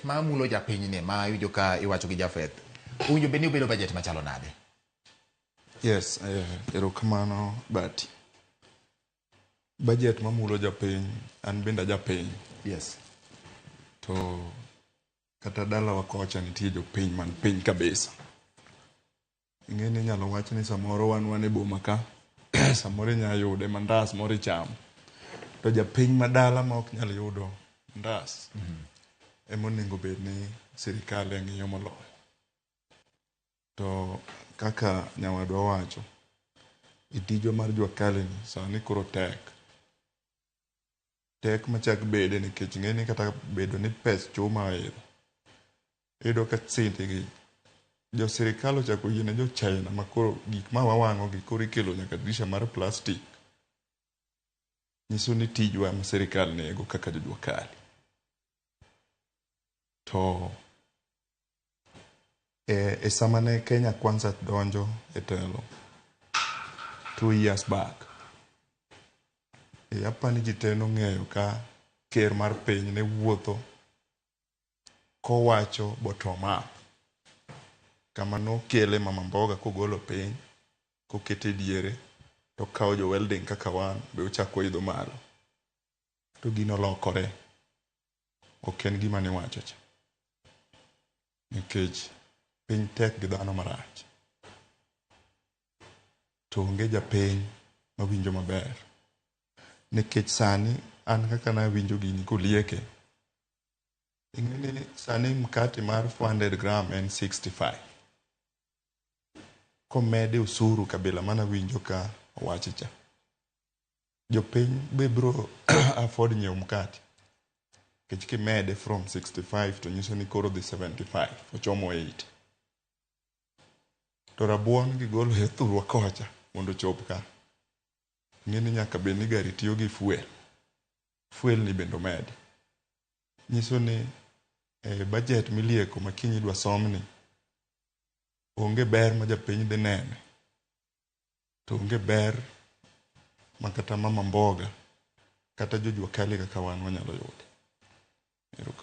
ma mulo japinyni ma iwinjo ka iwacho gi Jafeth owinjo bed ni obedo bajet machalo nade? Yes, eh, erokamano uh, Bati. Bajet mamulo japiny, an bende ajapiny. Yes. To kata dalawa kocha nitie jopiny man piny kabisa. Ing'eni inyalo wach ni samoro wan wan e boma ka, samoro inyalo yude mandas moro ichamo. To japiny madala ma ok nyal yudo mandas, ema onego bed ni sirkal e ng'iyo moloyo. To kaka nyawadwa owacho, e tijwa mar Juakali ni sani koro tek. tek machak bede nikech ing'e ni kata bedo ni pes chuma oidho, iyudo ka sende gi jo sirkal ochako oyie ne jo China ma koro gik ma wawang'o gi koro ikelo nyaka dirisha mar plastic. Nyiso ni tijwa ema sirkal nego kaka jo Jua Kali. To E sama ne Kenya Kwanza donjo e telo two years back, apa ni ji te nong'eyo ka ker mar piny ne wuotho kowacho bottom up. Kama nokele Mama Mboga kogolo piny kokete diere tokawo jo welding kaka wan be ochako oidho malo. To gino olokore, Ok en gima niwacho cha. Nikech piny tek gi dhano marach. To onge japiny mawinjo maber. Nikech sani an kaka nawinjo gini kolieke, ing'e ni sani mkati mar 400 gram en 65. Komede osuru kabila manawinjo ka owachi cha. Jopiny be bro afford nyiewo mkate. Nikech kimede from 65 to nyiso ni koro odhi 75, ochomo 80. To rabuon gigolo e thurwa kocha mondo ochop ka. Ing'e ni nyaka bed ni gari tiyo gi fuel. Fuel ni bende omedi. Nyiso ni e budget milieko ma kiny idwa somni, onge ber ma japiny dhi nene to onge ber ma kata mama mboga kata jo jua kali kaka wan wanyalo yudo. Erokamano.